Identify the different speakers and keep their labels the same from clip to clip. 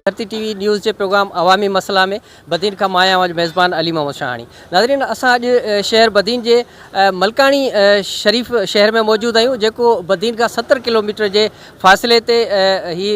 Speaker 1: ڌرتي ٽي وي نيوز جي پروگرام عوامي مسئلا ۾ بدين کان مان آهيان ميزبان علي محمد شاهاڻي ناظرين اسان اڄ شهر بدين جي ملڪاڻي شريف شهر ۾ موجود آهيون جيڪو بدين کان ستر ڪلوميٽر جي فاصلي تي هي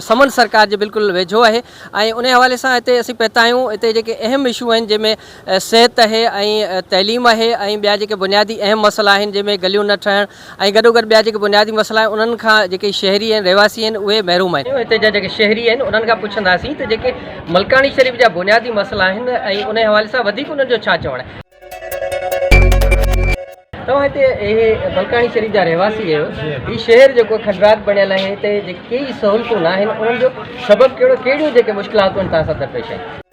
Speaker 1: سمن سرڪار جي بلڪل ويجهو آهي ۽ ان حوالي سان هتي اسين پهتا آهيون هتي جيڪي اهم اشو آهن جنهن ۾ صحت اهي ۽ تعليم اهي ۽ ٻيا جيڪي بنيادي اهم مسئلا آهن جنهن ۾ گليون نه ٺهڻ ۽ گڏوگڏ ٻيا جيڪي بنيادي مسئلا آهن انهن کان جيڪي شهري ۽ رهواسي آهن اهي محروم آهن. هتي جا جيڪي شهري آهن انهن کان پڇنداسين ته جيڪي ملڪاڻي شريف جا بنيادي مسئلا آهن ۽ انهي حوالي سان وڌيڪ انهن جو ڇا چوڻ آهي. توهان هتي اهي ملڪاڻي شريف جا رهواسي آهيو هي شهر جيڪو کنڊرات بڻيل آهي هتي جيڪي ڪيئي سهولتون ناهن انهن جو سبب ڪهڙو ڪهڙيون جيڪي مشڪلاتون توهان سان درپيش آهن.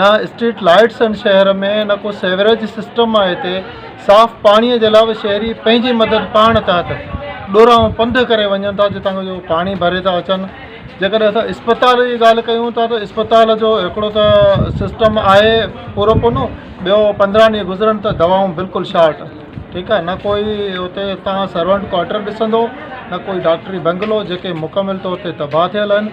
Speaker 2: نه اسٽريٽ لائيٽس آهن شهر ۾ نه ڪو سيوريج سسٽم آهي هتي صاف پاڻي جي لا به شهري پنهنجي مدد پاڻ تحت ڏورانهون پنڌ ڪري وڃن ٿا جتان کان جو پاڻي ڀري ٿا اچن جيڪڏهن اسان اسپتال جي ڳالهه ڪيون ٿا ته اسپتال جو هڪڙو ته سسٽم آهي پورو پونو ٻيو پندرهن ڏينهن گذرن ته دوائون بلڪل شارٽ ٺيڪ آهي نه ڪوئي هتي تان سرونٽ ڪواٽر ڏسندو نه ڪوئي ڊاڪٽري بنگلو جيڪي مڪمل طور تي تباهه ٿيل آهن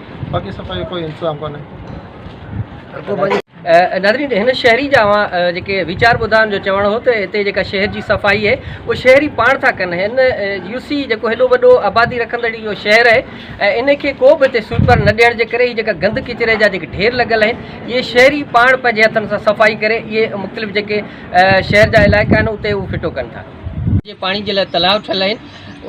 Speaker 2: باقي صفائي جو ڪوئي انتظام ڪونهي.
Speaker 1: ناظرين هن شهري جا اوهان جيڪي ويچار ٻڌا ان جو چوڻ هو ته هتي جيڪا شهر جي صفائي اهي اهو شهري پاڻ ٿا ڪن هن يو سي جيڪو هيڏو وڏو آبادي رکندڙ اهو شهر اهي ۽ ان کي ڪو به هتي سوئپر نه ڏيڻ جي ڪري هي جيڪا گند ڪچري جا جيڪي ڍير لڳل اهي اهي شهري پاڻ پنهنجي هٿن سان صفائي ڪري اهي مختلف جيڪي شهر جا علائقا آهن اتي اهو ڦٽو ڪن ٿا جي پاڻي جي لاء تلاء ٺهيل اهي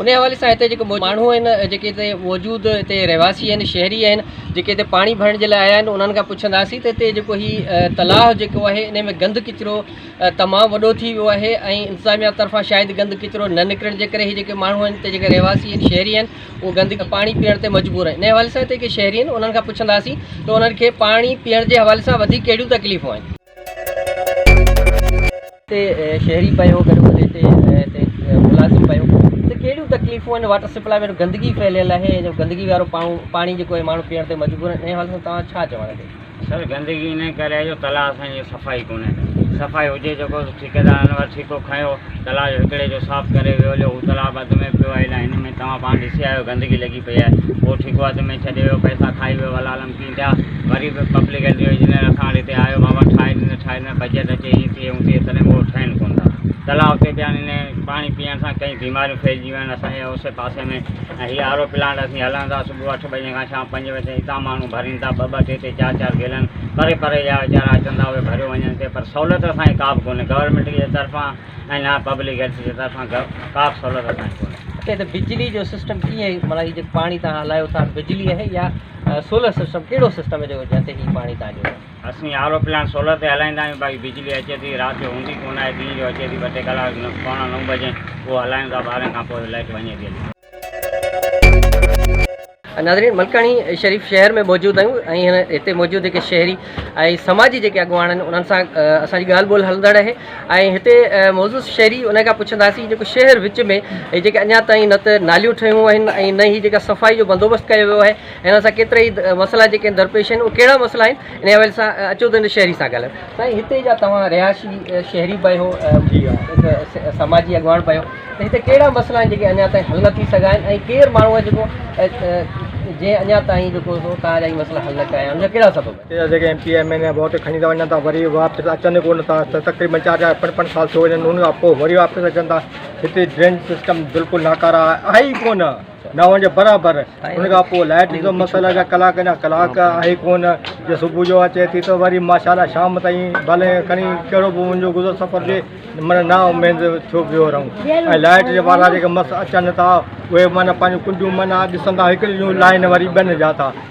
Speaker 1: انهيء حوالي سان هتي جيڪي ماڻهو آهن جيڪي هتي موجود هتي رهواسي آهن شهري آهن جيڪي هتي پاڻي ڀرڻ جي لاء آيا آهن انهن کان پڇنداسين ته هتي جيڪو هي تلاء جيڪو آهي انهي ۾ گند ڪچرو تمام وڏو ٿي ويو آهي ۽ انتظاميا طرفان شايد گند ڪچرو نه نڪرڻ جي ڪري هي جيڪي ماڻهو آهن هتي جيڪي رهواسي آهن شهري آهن اهي گند پاڻي پيئڻ تي مجبور آهن انهيء حوالي سان هتي جيڪي شهري آهن انهن کان پڇنداسين ته انهن کي پاڻي پيئڻ جي حوالي سان وڌيڪ ڪهڙيون تڪليفون آهن اتي شهري پيو گڏو گڏ اتي اتي ملازم پيو اتي ڪهڙيون تڪليفون آهن واٽر سپلاء ۾ گندگي ڦهليل آهي ۽ گندگي وارو پاڻو پاڻي جيڪو آهي ماڻهو پيئڻ تي مجبور آهن ان حوالي سان توهان ڇا چوڻ تي سر گندگي ان
Speaker 3: ڪري آهي جو تلاء اسان جي صفائي ڪونهي صفائي هجي جيڪو ٺيڪيدارن وٽ ٺيڪو کنيو تلاء جو هڪڙي جو صاف ڪري ويو هليو هو تلاء به اڌ ۾ پيو آهي الاء هن ۾ توهان پاڻ ڏسي آيا آهيو گندگي لڳي پئي آهي هو ٺيڪو اڌ ۾ ڇڏي ويو پئسا کائي ويو والعالم ڪي ڏيندا وري به پبلڪ ۽ ڊويزنل اکاڻ هتي آيو ماما ٺاهي ڏني ٺاهي ڏني بجيٽ اچي ائين ٿئي اون ٿئي تڏهن به اهو ٺهن ڪونه ٿا تلاء اتي پيا آهن انهي پاڻي پيئڻ سان ڪئين بيماريون ڦهلجي ويون آهن اسان جي اوسي پاسي ۾ ۽ هي آر او پلانٽ اسين هلائون ٿا صبح اٺ بجي کان شام پنج بجي تائين هتان ماڻهو ڀرين ٿا ٻه ٻه ٽي ٽي چار چار گيلن پري پري جا ويچارا اچن ٿا اهي ڀريو وڃن ٿي پر سهولت اسان کي ڪا به ڪونهي گورنمينٽ جي طرفان ۽ نه پبلڪ هيلٿ جي طرفان ڪا به سهولت اسان کي ڪونهي. اچا هتي بجلي جو سسٽم
Speaker 1: ڪيئن مطلب هي جيڪو پاڻي تهان هلايو ٿا بجلي آهي يا سولر سسٽم ڪهڙو سسٽم آهي جيڪو جتي هي پاڻي تهان جو. اسين آر او پلانٽ
Speaker 3: سولر تي هلائيندا آهيون باقي بجلي اچي ٿي رات جو هوندي ڪونه آهي ڏينهن جو اچي ٿي ٻه ٽي ڪلاڪ پوڻا نو بجي اهو هلايون ٿا ٻارهن کان پوء لائٽ وڃي ٿي هلي. ناظرين
Speaker 1: ملڪاڻي شريف شهر ۾ موجود آهيون ۽ هتي موجود جيڪي شهري ۽ سماجي جيڪي اڳواڻ آهن انهن سان اسان جي ڳالهه ٻولهه هلندڙ رهي ۽ هتي موضوع شهري ان کان پڇنداسين جيڪو شهر وچ ۾ جيڪي اڃا تائين نه ته ناليون ٺهيون آهن ۽ نه هي جيڪا صفائي جو بندوبست ڪيو ويو آهي ان سان ڪيترا ئي مسئلا جيڪي درپيش آهن اهي ڪهڙا مسئلا آهن ان حوالي سان اچو ته هن شهري سان ڳالهيون سائين هتي جا توهان رهائشي شهري به آهيو ۽ سماجي اڳواڻ به آهيو ته هتي ڪهڙا مسئلا آهن جيڪي اڃا تائين حل نه ٿي سگهيا آهن ۽ ڪير ماڻهو آهي جيڪو جنهن اڃا تائين جيڪو توهان جا هي مسئلا حل نه ڪيا آهن ان جا ڪهڙا سبب آهن. هتي جا M P M N A vote
Speaker 2: کڻي ته وڃن ٿا وري واپس اچن ڪو نه ٿا تقريبن چار چار پنج پنج سال ٿي وڃن ان کان پوء وري واپس اچن ٿا هتي ڊرينج سسٽم بلڪل ناڪاره آهي ئي ڪو نه نو جي برابر ان کان پوء لائيٽ جو مسئلو جا ڪلاڪ اڃا ڪلاڪ آهي ڪون جو صبح جو اچي ٿي ته وري ماشاءالله شام تائين ڀلي کڻي ڪهڙو به منهنجو گذر سفر جي معنيٰ نا اميد ٿيو پيو رهون ۽ لائيٽ جي وارا جيڪي مس اچن ٿا اهي معنيٰ پنهنجون ڪنڊيون معنيٰ ڏسن ٿا هڪڙي جون لائين وري ٻن جا ٿا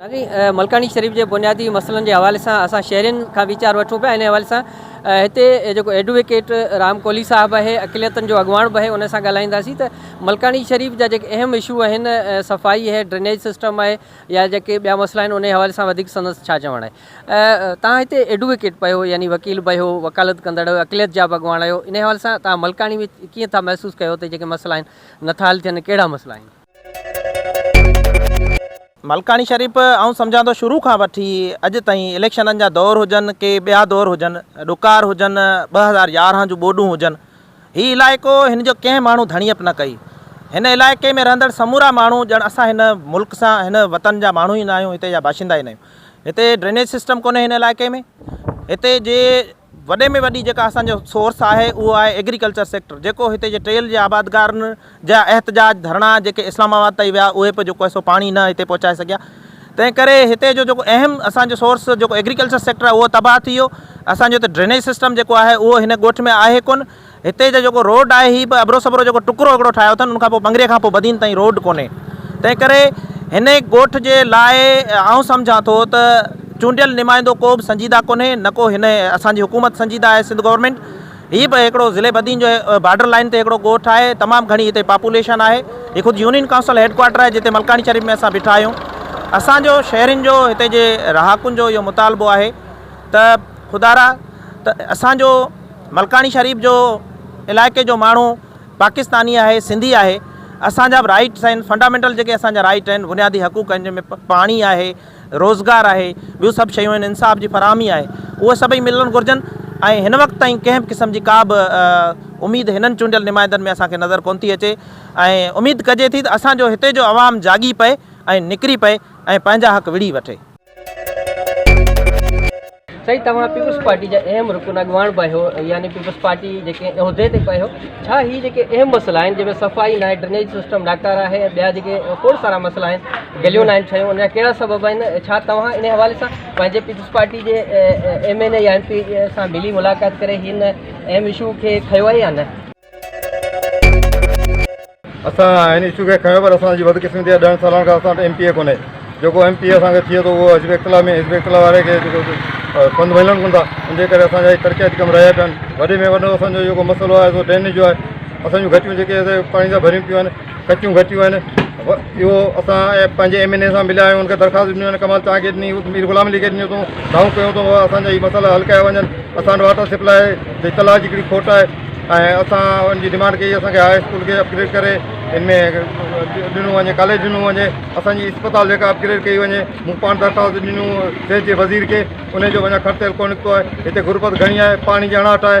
Speaker 1: سائين ملڪاڻي شريف جي بنيادي مسئلن جي حوالي سان اسان شهرين کان ويچار وٺون پيا ان حوالي سان هتي جيڪو ايڊووڪيٽ رام ڪولهي صاحب آهي اقليتن جو اڳواڻ به آهي ان سان ڳالهائينداسين ته ملڪاڻي شريف جا جيڪي اهم اشو آهن صفائي آهي ڊرينيج سسٽم آهي يا جيڪي ٻيا مسئلا آهن ان حوالي سان وڌيڪ سندس ڇا چوڻ آهي تان هتي ايڊووڪيٽ پيو يعني وڪيل بيو وڪالت ڪندڙ اقليت جا به اڳواڻ آهيو ان حوالي سان تان ملڪاڻي ۾ ڪيئن ٿا محسوس ڪيو ته جيڪي مسئلا آهن نٿا حل ٿين ڪهڙا مسئلا آهن
Speaker 4: ملڪاڻي شريف آئون سمجهان ٿو شروع کان وٺي اڄ تائين اليڪشنن جا دور هجن ڪي ٻيا دور هجن ڏڪار هجن ٻه هزار يارهن جون ٻوڏون هجن هي علائقو هن جو ڪنهن ماڻهو ڌڻيپ نه ڪئي هن علائقي ۾ رهندڙ سمورا ماڻهو ڄڻ اسان هن ملڪ سان هن وطن جا ماڻهو ئي نه آهيون هتي جا باشندا ئي نه آهيون هتي ڊرينيج سسٽم ڪونهي هن علائقي ۾ هتي جي وڏي ۾ وڏي جيڪا اسان جو سورس آهي اهو آهي ايگريڪلچر سيڪٽر جيڪو هتي جي ٽيل جي آبادگارن جا احتجاج ڌرڻا جيڪي اسلام آباد تائين ويا اهي به جيڪو سو پاڻي نه هتي پهچائي سگهيا تنهن ڪري هتي جو جيڪو اهم اسان جو سورس جيڪو ايگريڪلچر سيڪٽر آهي اهو تباهه ٿي ويو اسان جو هتي ڊرينيج سسٽم جيڪو آهي اهو هن ڳوٺ ۾ آهي ڪونه هتي جو جيڪو روڊ آهي هي به ابرو سبرو جيڪو ٽڪرو هڪڙو ٺاهيو اٿن ان کان پوء ٻنگري کان پوء بدين تائين روڊ ڪونهي تنهن ڪري هن ڳوٺ جي لاء آئون سمجهان ٿو ته چونڊيل نمائندو ڪو به سنجيده ڪونهي نه ڪو هن اسان جي حڪومت سنجيده آهي سنڌ گورنمينٽ هي به هڪڙو ضلعي بدين جو بارڊر لائين تي هڪڙو ڳوٺ آهي تمام گهڻي هتي پاپوليشن آهي هي خود يونين ڪائونسل هيڊ ڪوارٽر آهي جتي ملڪاڻي شريف ۾ اسان بيٺا آهيون اسان جو شهرين جو هتي جي رهاڪن جو اهو مطالبو آهي ته خدارا ته اسان جو ملڪاڻي شريف جو علائقي جو ماڻهو پاڪستاني آهي سنڌي آهي اسان جا به رائيٽس آهن فنڊامينٽل جيڪي اسان جا رائيٽ آهن بنيادي حقوق آهن جنهن ۾ پاڻي آهي روزگار آهي ٻيون سڀ شيون آهن انصاف جي فراهمي آهي اهي سڀئي ملڻ گهرجن ۽ هن وقت تائين ڪنهن به قسم جي ڪا به اميد هنن چونڊيل نمائندن ۾ اسان کي نظر ڪونه ٿي اچي ۽ اميد ڪجي ٿي ته اسان جو هتي جو عوام جاڳي پئي ۽ نڪري پئي ۽ پنهنجا حق وڙهي وٺي.
Speaker 1: سائين توهان پيپلز پارٽي جا اهم رڪن اڳواڻ به آهيو يعني پيپلز پارٽي جيڪي عهدي تي به آهيو ڇا هي جيڪي اهم مسئلا آهن جنهن ۾ صفائي ناهي ڊرينيج سسٽم ناڪاره آهي ۽ ٻيا جيڪي کوڙ سارا مسئلا آهن گليون ناهن ٺهيون ان جا ڪهڙا سبب آهن ڇا توهان ان حوالي سان پنهنجي پيپلز پارٽي جي ايم اين اي يا ايم پي سان ملي ملاقات ڪري هن اهم اشو کي کنيو آهي يا نه
Speaker 2: اسان هن اشو کي کنيو پر اسان جي بدقسمتي يا ڏڻ سلڻ ڪري اسان وٽ ايم پي اي ڪونهي جيڪو ايم پي اي اسان کي ٿئي ٿو اهو حزب اختلاف ۾ حزب اختلاف واري کي جيڪو سنڌ ملن ڪون ٿا ان جي ڪري اسان جا ترقياتي ڪم رهيا پيا آهن وڏي ۾ وڏو اسان جو جيڪو مسئلو آهي سو ڊرينيج جو آهي اسان جون گهٽيون جيڪي پاڻي سان ڀريون پيون آهن گهٽيون گهٽيون آهن اهو اسان پنهنجي ايم اين اي سان مليا آهيون ان کي درخواست ڏنيون آهن ڪمال چانگي ڏني مير غلام علي کي ڏنيون اٿئون دانهون ڪيون اٿئون اسان جا هي مسئلا حل ڪيا وڃن اسان وٽ واٽر سپلاء جي تلاش جي ڪهڙي کوٽ آهي ۽ اسان ان جي ڊمانڊ ڪئي اسان کي هاء اسڪول کي اپگريڊ ڪري ان ۾ ڏنو وڃي ڪاليج ڏنو وڃي اسانجي اسپتال جيڪا اپگريڊ ڪئي وڃي مون پاڻ درخواست ڏنيون صحت جي وزير کي ان جو اڃا خرچ ڪو نڪتو آهي هتي غربت گهڻي آهي پاڻي جي اڻاٺ آهي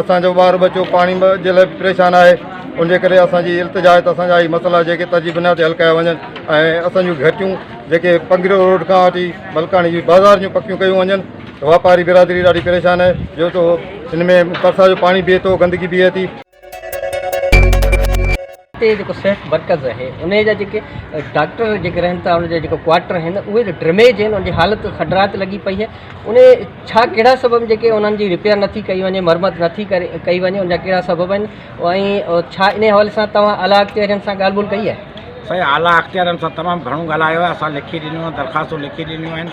Speaker 2: اسان جو ٻار ٻچو پاڻي جي لاء به پريشان آهي ان جي ڪري اسان جي التجا آهي ته اسان جا هي مسئلا جيڪي ترجيح بنياد تي حل ڪيا وڃن ۽ اسان جون گهٽيون جيڪي پنگريو روڊ کان وٺي ملڪاڻي جي بازار جون پڪيون ڪيون وڃن واپاري برادري ڏاڍي پريشان آهي جو تو ان ۾ برسات جو پاڻي بيهي ٿو گندگي بيهي ٿي
Speaker 1: اتي جيڪو صحت مرڪز آهي ان جا جيڪي ڊاڪٽر جيڪي رهن ٿا ان جا جيڪو ڪوارٽر آهن اهي جو ڊرميج آهن ان جي حالت کڊرات لڳي پئي آهي ان ڇا ڪهڙا سبب جيڪي انهن جي رپيئر نٿي ڪئي وڃي مرمت نٿي ڪري ڪئي وڃي ان جا ڪهڙا سبب آهن ۽ ڇا ان حوالي سان توهان اعليٰ اختيارين سان ڳالهه ٻولهه ڪئي آهي سائين اعليٰ اختيارين
Speaker 5: سان تمام گهڻو ڳالهايو آهي اسان لکي ڏنيون آهن درخواستون لکي ڏنيون آهن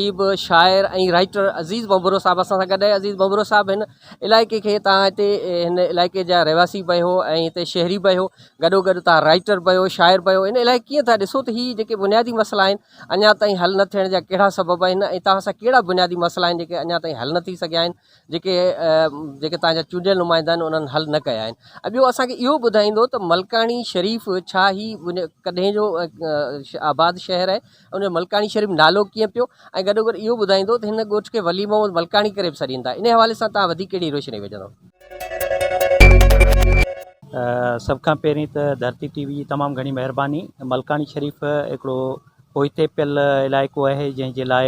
Speaker 1: اديب، شاعر ۽ رائيٽر عزيز ڀنڀرو صاحب اسان سان گڏ آهي. عزيز ڀنڀرو صاحب هن علائقي کي تان هتي هن علائقي جا رهواسي به آهيو ۽ هتي شهري به آهيو گڏو گڏ تان رائيٽر به آهيو شاعر به آهيو هن علائقي کي ڪيئن ٿا ڏسو ته هي جيڪي بنيادي مسئلا آهن اڃا تائين حل نه ٿيڻ جا ڪهڙا سبب آهن ۽ توهان سان ڪهڙا بنيادي مسئلا آهن جيڪي اڃا تائين حل نه ٿي سگهيا آهن جيڪي جيڪي تان جا چونڊيل نمائندا آهن انهن حل نه ڪيا آهن ۽ ٻيو اسان کي اهو ٻڌائيندو ته ملڪاڻي شريف ڇا هي ڪڏهن جو آباد شهر آهي ان جو ملڪاڻي شريف نالو ڪيئن پيو ۽ گڏو گڏ اهو ٻڌائيندو ته هن ڳوٺ کي ولي محمد ملڪاڻي ڪري به سڏين ٿا ان حوالي سان تان وڌيڪ ڪهڙي روشني وجهندو.
Speaker 6: سڀ کان پهرين ته ڌرتي ٽي وي جي تمام گهڻي مهرباني ملڪاڻي شريف هڪڙو پوئتي پيل علائقو آهي جنهن جي لاء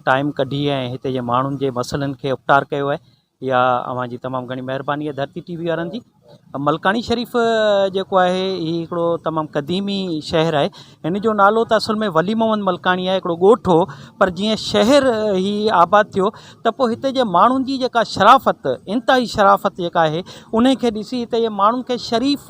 Speaker 6: ٽائيم ڪڍي ۽ هتي جي ماڻهن جي مسئلن کي اپٽار ڪيو آهي يا اوهان جي تمام گهڻي مهرباني آهي ڌرتي ٽي وي وارن جي ملڪاڻي شريف جيڪو آهي هي هڪڙو تمام قديمي شهر آهي هن جو نالو ته اصل ۾ ولي محمد ملڪاڻي آهي هڪڙو ڳوٺ هو پر جيئن شهر هي آباد ٿيو ته پوء هتي جي ماڻهن جي جيڪا شرافت انتهائي شرافت جيڪا آهي انهيء کي ڏسي هتي جي ماڻهن کي شريف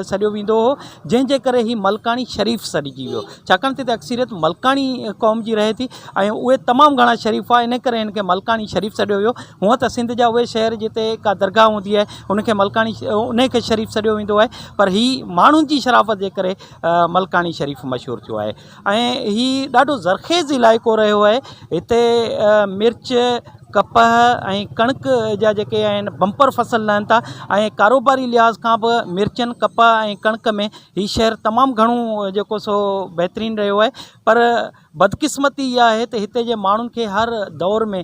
Speaker 6: سڏيو ويندو هو جنهن جي ڪري هي ملڪاڻي شريف سڏجي ويو ڇاڪاڻ ته هتي اڪثريت ملڪاڻي قوم جي رهي ٿي ۽ اهي تمام گهڻا شريف هئا ان ڪري هن کي ملڪاڻي شريف سڏيو ويو هونئن ته سنڌ جا اهي شهر جتي ڪا درگاهه هوندي آهي ان کي ملڪاڻي انهيء کي شريف سڏيو ويندو آهي پر هي ماڻهن جي شرافت جي ڪري ملڪاڻي شريف مشهور ٿيو آهي ۽ هي ڏاڍو زرخيز علائقو رهيو آهي هتي مرچ ڪپهه ۽ ڪڻڪ جا جيڪي آهن بمپر فصل لهن ٿا ۽ ڪاروباري لحاظ کان به مرچن ڪپهه ۽ ڪڻڪ ۾ هي شهر تمام گهڻو جيڪو سو بهترين رهيو آهي پر بدقسمتي اها آهي ته هتي جي ماڻهن کي هر دور ۾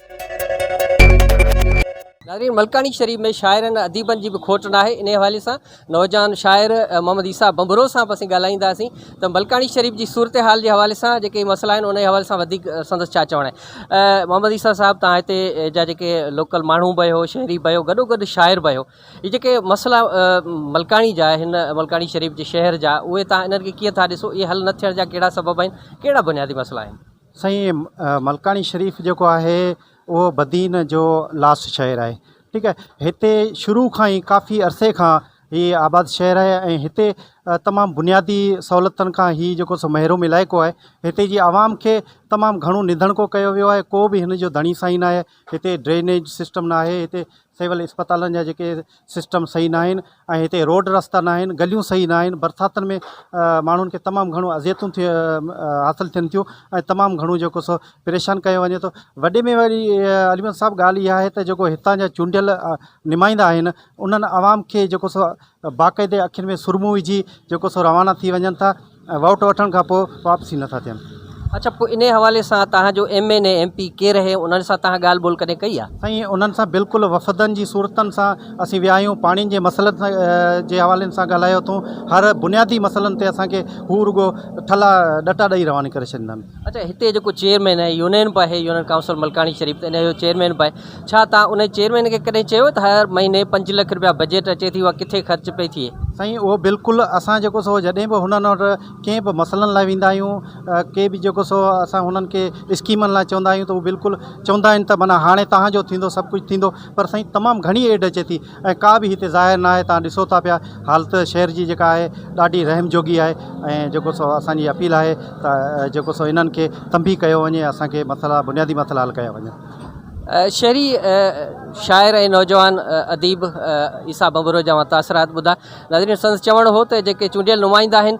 Speaker 1: ناظرين ملڪاڻي شريف ۾ شاعرن اديبن جي به کوٽ ناهي انهي حوالي سان نوجوان شاعر محمد عيسيٰ بنبرو سان به اسين ڳالهائينداسين ته ملڪاڻي شريف جي صورتحال جي حوالي سان جيڪي مسئلا آهن انهي حوالي سان وڌيڪ سندس ڇا چوڻ آهي محمد عيسيٰ صاحب تان هتي جا جيڪي لوڪل ماڻهو به هو شهري به هو گڏو گڏ شاعر به هو هي جيڪي مسئلا ملڪاڻي جا آهن ملڪاڻي شريف جي شهر جا اهي تان انهن کي ڪيئن ٿا ڏسو اهي حل نه ٿيڻ جا ڪهڙا سبب آهن ڪهڙا بنيادي مسئلا آهن سائين
Speaker 7: ملڪاڻي شريف جيڪو آهي اهو بدين جو لاس شهر آهي ٺيڪ آهي هتي شروع کان ئي ڪافي عرصي کان هي آباد شهر آهي ۽ هتي تمام بنيادي سهولتن کان هي جيڪو سو محروم علائقو آهي هتي جي عوام کي تمام گهڻو نڌڻڪو ڪيو ويو آهي ڪو به هن جو ڌڻي سائين ناهي هتي ڊرينيج سسٽم ناهي هتي سول اسپتالن جا جيڪي سسٽم صحيح نه آهن ۽ هتي روڊ رستا نه آهن گليون صحيح نه آهن برساتن ۾ ماڻهن کي تمام گهڻو اذيتون ٿي حاصل ٿين ٿيون ۽ تمام گهڻو جيڪو سو پريشان ڪيو وڃي ٿو وڏي ۾ وڏي علي محمد صاحب ڳالهه اها آهي ته جيڪو هتان جا چونڊيل نمائندا آهن انهن عوام کي جيڪو سو باقاعدي اکين ۾ سرمو وجهي جيڪو سو روانا ٿي وڃن ٿا ۽ ووٽ وٺڻ کان پوء واپسي نٿا ٿين. اڇا
Speaker 1: پوء انهي حوالي سان توهان جو M N A M P ڪير اهي انهن سان توهان ڳالهه ٻولهه ڪڏهن ڪئي آهي. سائين انهن سان بلڪل
Speaker 7: وفدن جي صورتن سان اسين ويا آهيون پاڻين جي مسئلن سان جي حوالي سان ڳالهايو اٿون هر بنيادي مسئلن تي اسان کي هو رڳو ٺلا ڏٽا ڏئي رواني ڪري ڇڏيندا آهن. اڇا هتي جيڪو چيئرمين
Speaker 1: آهي يونين به آهي يونين ڪائونسل ملڪاڻي شريف ته انهي جو چيئرمين به آهي ڇا توهان انهي چيئرمين کي ڪڏهن چيو ته هر مهيني پنج لک رپيا بجيٽ اچي ٿي اها ڪٿي خرچ پئي ٿئي. سائين اهو بلڪل
Speaker 7: اسان جيڪو سو جڏهن به هنن وٽ ڪنهن به مسئلن لاء ويندا آهيون ڪي به جيڪو سو اسان هنن کي اسڪيمن لاء چوندا آهيون ته هو بلڪل چوندا آهن ته معنيٰ هاڻي توهان جو ٿيندو سڀ ڪجهه ٿيندو پر سائين تمام گهڻي ايڊ اچي ٿي ۽ ڪا به هتي ظاهر نه آهي توهان ڏسو ٿا پيا حالت شهر جي جيڪا آهي ڏاڍي رحم جوڳي آهي ۽ جيڪو سو اسان جي اپيل آهي ته جيڪو سو هنن کي تنبيهه ڪيو وڃي اسان کي مسئلا بنيادي مسئلا حل ڪيا وڃن. شعري
Speaker 1: شاعر ۽ نوجوان اديب عيسيٰ ڀنڀورو جا اوهان تاثرات ٻڌا. ناظرين سندس چوڻ هو ته جيڪي چونڊيل نمائندا آهن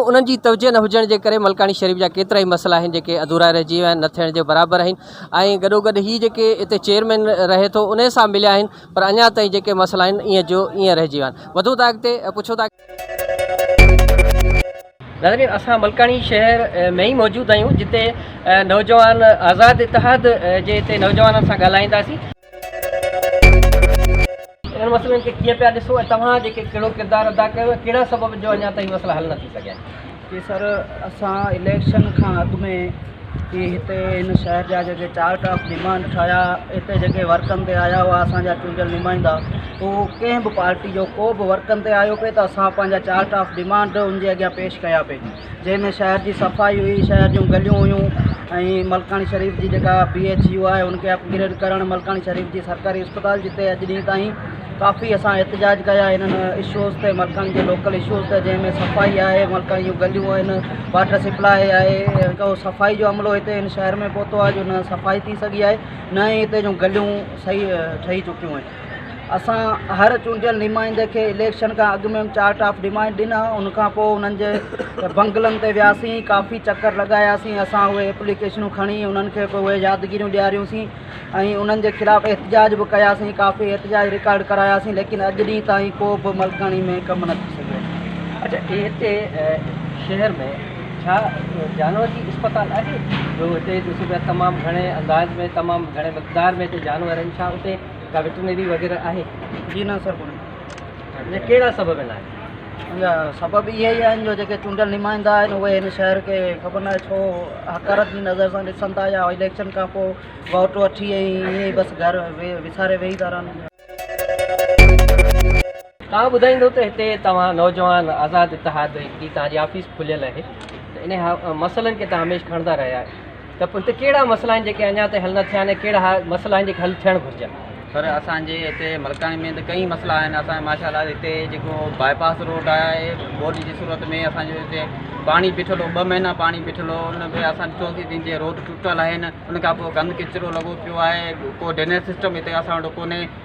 Speaker 1: انهن جي توجهه نه هجڻ جي ڪري ملڪاڻي شريف جا ڪيترا ئي مسئلا آهن جيڪي اڌورا رهجي ويا آهن نه ٿيڻ جي برابر آهن ۽ گڏوگڏ هي جيڪي اتي چيئرمين رهي ٿو انهي سان مليا آهن پر اڃا تائين جيڪي مسئلا آهن ايئن جو ايئن رهجي ويا آهن وڌون ٿا اڳتي پڇون ٿا ناظرين اسان ملڪاڻي شهر ۾ ئي موجود آهيون جتي نوجوان آزاد اتحاد جي هتي نوجوانن سان ڳالهائينداسين. انهن مسئلن کي ڪيئن پيا ڏسو ۽ توهان جيڪي ڪهڙو ڪردار ادا ڪيو ۽ ڪهڙا سبب جو اڃا تائين مسئلا حل نه ٿي سگهيا آهن. جي سر اسان
Speaker 8: اليڪشن کان اڳ ۾ ھي ھتي ھن شھر جا جيڪي چار ٽاپ ڊيمانڊ ٺاھيا ھتي جيڪي ورڪن تي آيا ھئا اسان جا چونڊيل نمائندا ھو ڪنھن به پارٽي جو ڪو به ورڪن تي آيو پئي ته اسان پنھنجا چار ٽاپ ڊيمانڊ ان جي اڳيان پيش ڪيا پئي جنھن ۾ شھر جي صفائي ھئي شھر جون گليون ھيون ۽ ملڪاڻي شريف جي جيڪا بي ايڇ يو آھي ان کي اپ گريڊ ڪرڻ ملڪاڻي شريف جي سرڪاري اسپتال جتي اڄ ڏينھن تائين ڪافي اسان احتجاج ڪيا انهن اشوز تي ملڪان جي لوڪل اشوز تي جنهن ۾ صفائي آهي ملڪان جون گليون آهن واٽر سپلاء آهي هڪ اهو صفائي جو عملو هتي هن شهر ۾ پهتو آهي جو نه صفائي ٿي سگهي آهي نه ئي هتي جون گليون صحيح ٺهي چڪيون آهن اسان هر چونڊيل نمائندي کي اليڪشن کان اڳ ۾ چارٽ آف ڊمانڊ ڏنا ان کان پوء انهن جي بنگلن تي وياسين ڪافي چڪر لڳاياسين اسان اهي اپليڪيشنون کڻي انهن کي پوء اهي يادگيريون ڏياريوسين ۽ انهن جي خلاف احتجاج به ڪياسين ڪافي احتجاج رڪارڊ ڪراياسين ليڪن اڄ ڏينهن تائين ڪو به ملڪاڻي ۾ ڪم نه ٿي سگهيو اڇا هي هتي
Speaker 1: شهر ۾ ڇا جانور جي اسپتال آهي جو هتي ڏسو پيا تمام گهڻي انداز ۾ تمام گهڻي مقدار ۾ هتي جانور آهن ڇا هتي ڪا وٽرنري وغيره آهي جي نه سر ڪونهي.
Speaker 8: جا ڪهڙا سبب
Speaker 1: آهن؟ ان جا سبب اهي
Speaker 8: ئي آهن جو جيڪي چونڊيل نمائندا آهن اهي هن شهر کي خبر ناهي ڇو حقارت جي نظر سان ڏسن ٿا يا اليڪشن کان پوء ووٽ وٺي ۽ ائين ئي بس گهر وساري ويهي ٿا رهن. توهان
Speaker 1: ٻڌائيندو ته هتي توهان نوجوان آزاد اتحاد جي توهان جي آفيس کليل آهي ته انهن مسئلن کي توهان هميشھ کڻندا رهيا آهيو. ته هتي ڪهڙا مسئلا آهن جيڪي اڃا تائين حل نه ٿيا آهن ۽ ڪهڙا مسئلا آهن جيڪي حل ٿيڻ گهرجن. سر اسان جي
Speaker 9: هتي ملڪاڻي ۾ ته ڪئين مسئلا آهن اسان جي ماشا الله هتي جيڪو باء پاس روڊ آهي ٻوڏ جي صورت ۾ اسان جو هتي پاڻي بيٺل هو ٻه مهينا پاڻي بيٺل هو ان کي اسان ڏٺو سي تنهن جي روڊ ٽٽل آهن ان کان پوء گند ڪچرو لڳو پيو آهي ڪو ڊرينيج سسٽم هتي اسان وٽ ڪونهي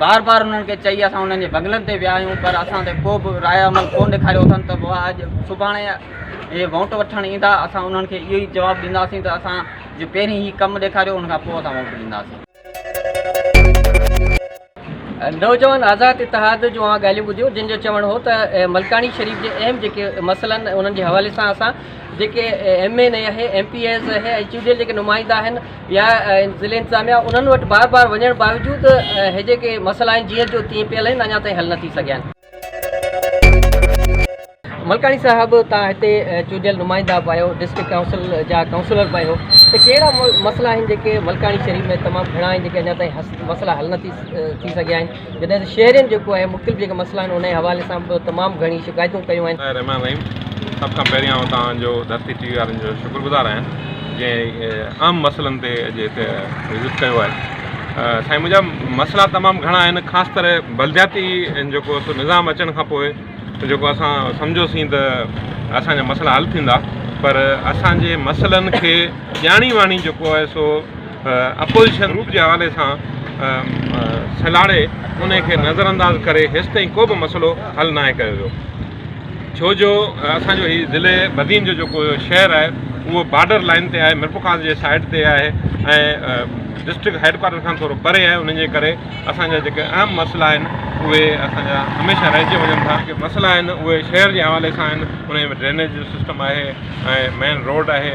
Speaker 9: بار بار انهن کي چئي اسان انهن جي بنگلن تي ويا آهيون پر اسان تي ڪو به راء عمل ڪو ڏيکاريو اٿن ته اها اڄ سڀاڻي اهي ووٽ وٺڻ ايندا اسان انهن کي اهو ئي جواب ڏينداسين ته اسان جو پهرين هي ڪم ڏيکاريو ان کان پوء اسان ووٽ ڏينداسين.
Speaker 1: نوجوان آزاد اتحاد جون اهي ڳالهيون ٻڌيون جن جو چوڻ هو ته ملڪاڻي شريف جي اهم جيڪي مسئلا آهن انهن جي حوالي سان اسان جيڪي ايم اين اي آهي ايم پي ايز آهي ۽ چونڊيل جيڪي نمائندا آهن يا ضلعي انتظاميا انهن وٽ بار بار وڃڻ باوجود هي جيڪي مسئلا آهن جيئن جو تيئن پيل آهن اڃا تائين حل نه ٿي سگهيا آهن. ملڪاڻي صاحب تان هتي چونڊيل نمائندا به آهيو ڊسٽرڪٽ ڪائونسل جا ڪائونسلر به آهيو ته ڪهڙا مسئلا آهن جيڪي ملڪاڻي شريف ۾ تمام گهڻا آهن جيڪي اڃا تائين مسئلا حل نه ٿي سگهيا آهن جڏهن ته شهرين جيڪو آهي مختلف جيڪي مسئلا آهن انهي حوالي سان به تمام گهڻي شڪايتون ڪيون آهن. بسمي الرحمٰن الرحيم
Speaker 10: سڀ کان پهرين آئون توهان جو ڌرتي ٽي وي وارن جو شڪر گذار آهيان جنهن اهم مسئلن تي اڄ هتي وزٽ ڪيو آهي سائين منهنجا مسئلا تمام گهڻا آهن خاص طرح بلدياتي جيڪو سو نظام اچڻ کان پوء جيڪو اسان سمجهوسين ته اسان جا مسئلا حل ٿيندا پر اسان جي مسئلن کي ڄاڻي واڻي جيڪو آهي سو اپوزيشن گروپ جي حوالي سان سلهاڙي ان کي نظر انداز ڪري هيستائين ڪو به مسئلو حل ناهي ڪيو ويو ڇو جو اسان جو هي ضلع بدين جو جيڪو شهر آهي اهو بارڊر لائن تي آهي مرپخاص جي سائيڊ تي آهي ۽ ڊسٽرڪٽ هيڊ ڪوارٽر کان ٿورو پري آهي ان جي ڪري اسان جا جيڪي اهم مسئلا آهن اهي اسان جا هميشه رهجي وڃن ٿا جيڪي مسئلا آهن اهي شهر جي حوالي سان آهن ان ڊرينيج جو سسٽم آهي ۽ مين روڊ آهي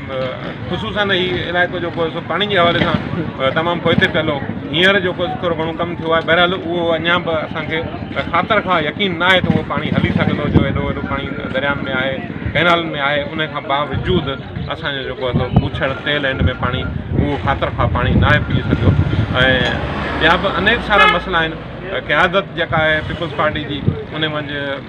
Speaker 10: خصوصن هي علائقو جيڪو سو پاڻي جي حوالي سان تمام پوئتي پيل هو هينئر جيڪو ٿورو گهڻو ڪم ٿيو آهي بهرحال اهو اڃا به اسان کي خاطر کان يقين نه آهي ته اهو پاڻي هلي سگهندو جو ايڏو وڏو پاڻي درياهن ۾ آهي ڪئنالن ۾ آهي ان کان باوجود اسانجو جيڪو اٿو پوڇڙ تيل هن ۾ پاڻي اهو خاطر کان پاڻي نه آهي پيئي سگهيو ۽ ٻيا به انيڪ سارا مسئلا آهن قيادت جيڪا آهي پيپلز پارٽي جي ان منجهه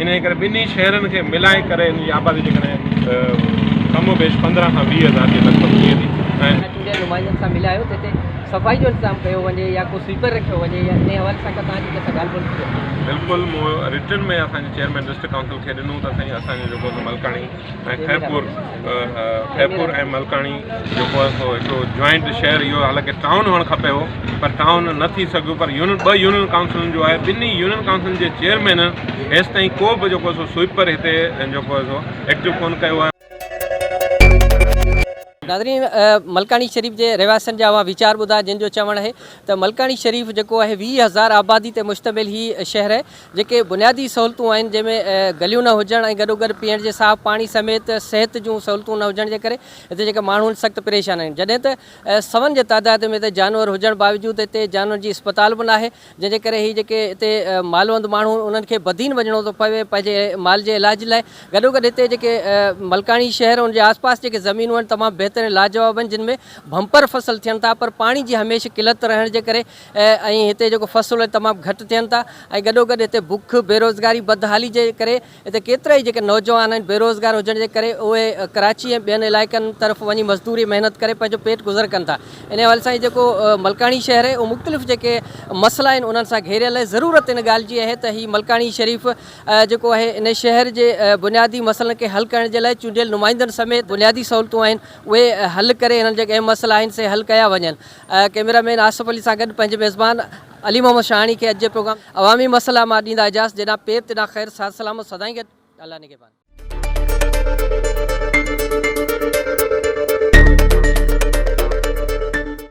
Speaker 10: انهيء ڪري ٻنهي شهرن کي ملائي ڪري ان جي آبادي جيڪڏهن ڪم و بيش پندرهن کان ويهه هزار جي لڳ ڀڳ ٿئي ٿي. چونڊيل نمائندن سان
Speaker 1: ملايو ته هتي صفائي جو انتظام ڪيو وڃي يا ڪو سويپر رکيو وڃي يا انهيء حوالي سان ڪا توهان جي ڪنهن سان ڳالهه ٻولهه ٿي اٿم؟ بلڪل مون
Speaker 10: رٽن ۾ اسان جي چيئرمين ڊسٽرڪٽ ڪائونسل کي ڏنو ته سائين اسان جو جيڪو ملڪاڻي ۽ خيرپور خيرپور ۽ ملڪاڻي جيڪو آهي سو هڪڙو جوائنٽ شهر اهو حالانڪه ٽائون هئڻ کپي هو پر ٽائون نه ٿي سگهيو پر يونين ٻه يونين ڪائونسلن جو آهي ٻنهي يونين ڪائونسلن جي چيئرمينن هيس تائين ڪو به جيڪو سو سوئپر هتي جيڪو آهي سو ايڪٽو ڪونه ڪيو آهي.
Speaker 1: ناظرين ملڪاڻي شريف جي رهواسين جا اوهان ويچار ٻڌا جن جو چوڻ آهي ته ملڪاڻي شريف جيڪو آهي ويهه هزار آبادي تي مشتمل هي شهر آهي جيڪي بنيادي سهولتون آهن جنهن ۾ گليون نه هجڻ ۽ گڏوگڏ پيئڻ جي صاف پاڻي سميت صحت جون سهولتون نه هجڻ جي ڪري هتي جيڪي ماڻهو آهن سخت پريشان آهن جڏهن ته سون جي تعداد ۾ هتي جانور هجڻ باوجود هتي جانورن جي اسپتال به ناهي جنهن جي ڪري هي جيڪي هتي مالوند ماڻهو آهن انهن کي بدين وڃڻو ٿو پوي پنهنجي مال جي علاج لاء گڏوگڏ هتي جيڪي ملڪاڻي شهر ان جي آسپاس جيڪي زمينون آهن تمام بهترين لاجواب آهن جن ۾ بمپر فصل ٿين ٿا پر پاڻي جي هميشه قلت رهڻ جي ڪري ۽ هتي جيڪو فصل اهي تمام گهٽ ٿين ٿا ۽ گڏو گڏ هتي بک، بيروزگاري، بدحالي جي ڪري هتي ڪيترائي جيڪي نوجوان آهن بيروزگار هجڻ جي ڪري اهي ڪراچي ۽ ٻين علائقن طرف وڃي مزدوري محنت ڪري پنهنجو پيٽ گذر ڪن ٿا ان حوالي سان جيڪو ملڪاڻي شهر اهو مختلف جيڪي مسئلا آهن انهن سان گهيريل آهي ضرورت ان ڳالهه جي آهي ته هي ملڪاڻي شريف جيڪو آهي ان شهر جي بنيادي مسئلن کي حل ڪرڻ جي لاء چونڊيل نمائندن سميت بنيادي سهولتون آهن اهي حل ڪري هنن جيڪي اهم مسئلا آهن سي حل ڪيا وڃن ڪيميرا مين آصف علي سان گڏ پنهنجي ميزبان علي محمد شاهاڻي کي اڄ جي پروگرام عوامي مسئلا مان ڏيندا اجازت جناب پير تنان خير صحت سلامت سدائين گڏ الله نگهبان.